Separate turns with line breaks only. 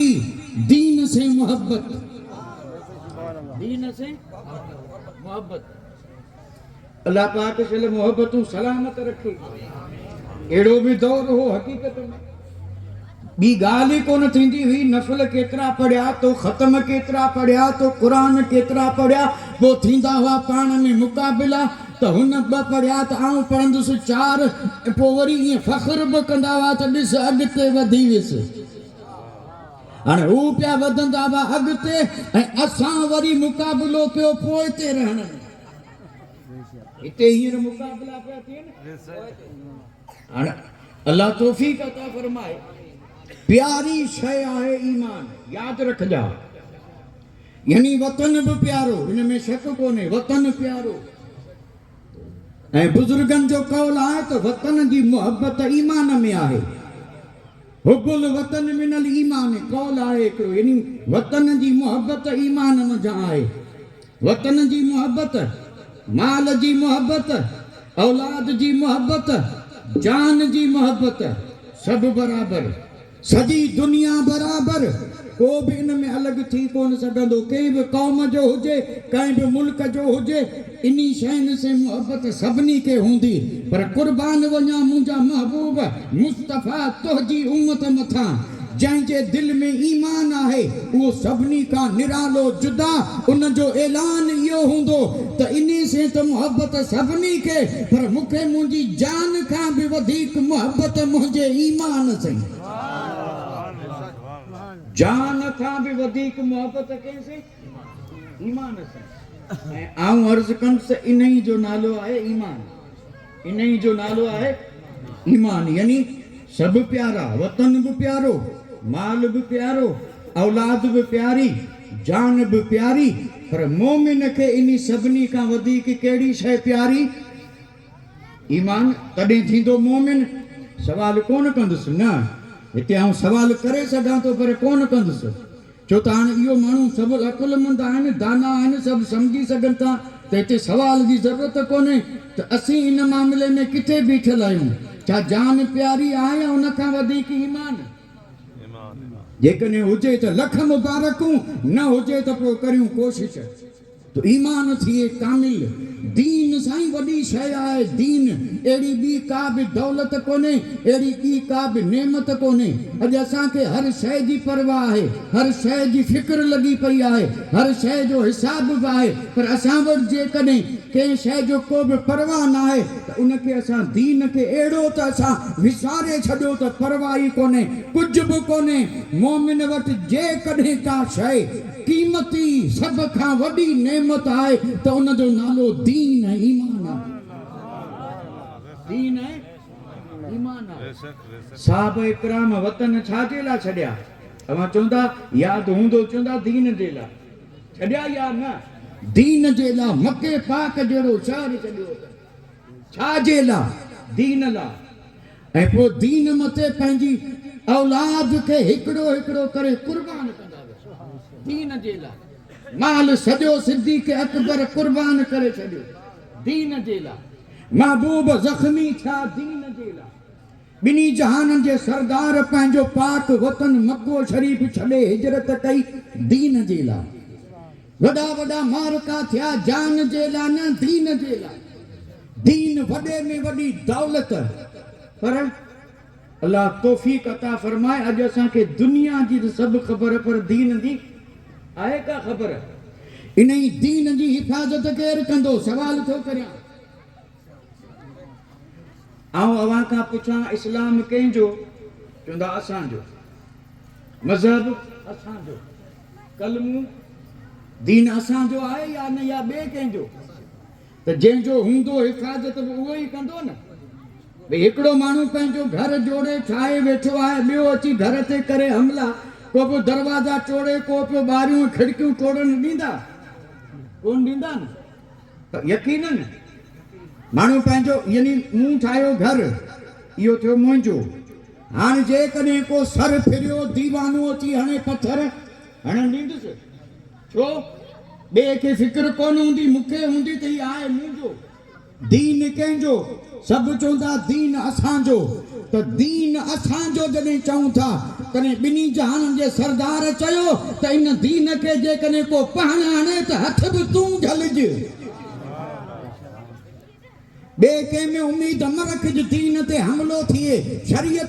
دين سين محبت دين سين محبت الله پاڪ سل محبتون سلامت رکي اهڙو به دور هو حقيقت ۾ ٻي ڳالهه ئي ڪونه ٿيندي هئي نفل ڪيترا پڙهيا تو ختم ڪيترا پڙهيا تو قرآن ڪيترا پڙهيا پوء ٿيندا هئا پاڻ ۾ مقابلا ته هن ٻه پڙهيا ته آئون پڙهندس چار ۽ پوء وري ائين فخر به ڪندا هئا ته ڏس اڳتي وڌي ويس هاڻي هو پيا وڌندا هئا اڳتي ۽ اسان وري مقابلو پيو پوئتي رهڻ ۾. هتي هينئر مقابلا پيا ٿين پوئتي. هاڻي الله توفيق عطا فرمائي. پياري شيء آهي ايمان. ياد رکجا. يعني وطن به پيارو. ان ۾ شڪ ڪونهي. وطن پيارو. ۽ بزرگن جو قول آهي ته وطن جي محبت ايمان ۾ آهي. حب الوطن من الايمان قول آهي هڪڙو يعني وطن جي محبت ايمان منجهان آهي. وطن جي محبت، مال جي محبت، اولاد جي محبت، جان جي محبت سڀ برابر. سڄي دنيا برابر. ڪو به ان ۾ الڳ ٿي ڪونه سگهندو. ڪنهن به قوم جو هجي، ڪنهن به ملڪ جو هجي. انھي شين سين محبت سڀني کي ھوندي پر قربان وڃان منھنجا محبوب مصطفيٰ تنھنجي امت مٿان جنھن جي دل ۾ ايمان آھي اھو سڀني کان نرالو جدا ان جو اعلان اھو ھوندو ته انھي سين ته محبت سڀني کي پر مون کي منھنجي جان کان به وڌيڪ محبت منھنجي ايمان سين جان کان به وڌيڪ محبت ڪنھن سين. ايمان سان ۽ آئون عرض ڪنس انهي جو نالو آهي ايمان انهي جو نالو آهي ايمان يعني سڀ پيارا وطن به پيارو مال به پيارو اولاد به پياري جان به پياري پر مومن کي انهي سڀني کان وڌيڪ ڪهڙي شئي پياري ايمان تڏهن ٿيندو مومن سوال ڪونه ڪندس نه هتي آئون سوال ڪري سگهان ٿو پر ڪونه ڪندس. ڇو ته هاڻي اهو ماڻهو سڀ عقلمند آهن، دانا آهن، سڀ سمجهي سگهن ٿا ته هتي سوال جي ضرورت ڪونهي ته اسين ان معاملي ۾ ڪٿي بيٺل آهيون، ڇا جان پياري آهي يا ان کان وڌيڪ ايمان؟ جيڪڏهن هجي ته لک مبارڪون، نه هجي ته پوء ڪريون ڪوشش. ايمان ٿئي ڪامل، دين سائين وڏي شيء آهي، دين اهڙي ٻي ڪا به دولت ڪونهي، اهڙي ٻي ڪا به نعمت ڪونهي، اڄ اسان کي هر شيء جي پرواهه آهي، هر شيء جي فڪر لڳي پئي آهي، هر شيء جو حساب به آهي، پر اسان وٽ جيڪڏهن ڪنهن شيء جو ڪو به پرواهه ناهي ته ان کي اسان دين کي اهڙو ته اسان وساري ڇڏيو ته پرواهه ئي ڪونهي، ڪجهه به ڪونهي، مؤمن وٽ جيڪڏهن ڪا شيء. قيمتي، سڀ کان وڏي نعمت آهي ته ان جو نالو دين ۽ ايمان آهي. دين ۽ ايمان آهي. صحابه ڪرام وطن ڇا جي لا ڇڏيا؟ اوهان چوندا ياد هوندو چوندا دين جي لا ڇڏيا يا نه؟ دين جي لا مڪي پاڪ جهڙو شهر ڇڏيو اٿن. ڇا جي لا؟ دين لا. ۽ پوء دين مٿي پنهنجي اولاد کي هڪڙو هڪڙو ڪري قربان ڪندا ويا. دين جي لاء مال سڄو صديق اڪبر قربان ڪري ڇڏيو. دين جي لاء محبوب زخمي ٿيا. دين جي لاء ٻنهي جهانن جي سردار پنهنجو پاڪ وطن مڪو شريف ڇڏي هجرت ڪئي. دين جي لاء. وڏا وڏا معرڪا ٿيا جان جي لا نه دين جي لا. دين وڏي ۾ وڏي دولت پر الله توفيق عطا فرمائي اڄ اسان کي دنيا جي ته سڀ خبر پر دين جي آهي ڪا خبر. انهي دين جي حفاظت ڪير ڪندو سوال ٿو ڪريان. آئون اوهان کان پڇان اسلام ڪنهن جو؟ چوندا اسان جو. مذهب اسان جو. ڪلمو، دين اسان جو آهي يا نه يا ٻئي ڪنهن جو؟ ته جنهن جو هوندو حفاظت به اهو ئي ڪندو نه. ڀئي هڪڙو ماڻهو پنهنجو گهر جوڙي ٺاهي ويٺو آهي ٻيو اچي گهر تي ڪري حملا ڪو پيو دروازا ٽوڙي ڪو پيو ٻاريون ۽ کڙڪيون ٽوڙڻ ڏيندا؟ ڪونه ڏيندا نه. يقيناً ماڻهو پنهنجو، يعني مون ٺاهيو گهر، اهو ٿيو منهنجو. هاڻ جيڪڏهن ڪو سر ڦريو ديوانو اچي هڻي پٿر، هڻڻ ڏيندس؟ ڇو؟ ٻئي کي فڪر ڪونه هوندي، مون کي هوندي ته هي آهي منهنجو، دين ڪنهن جو؟ سڀ چوندا دين اسان جو ته دين اسان جو جڏهن چئون ٿا تڏهن ٻنهي جهانن جي سردار چيو ته ان دين کي جيڪڏهن ڪو پهڻ هڻي ته هٿ به تون جهلج ٻئي ڪنهن ۾ اميد نه رکج دين تي حملو ٿئي شريعت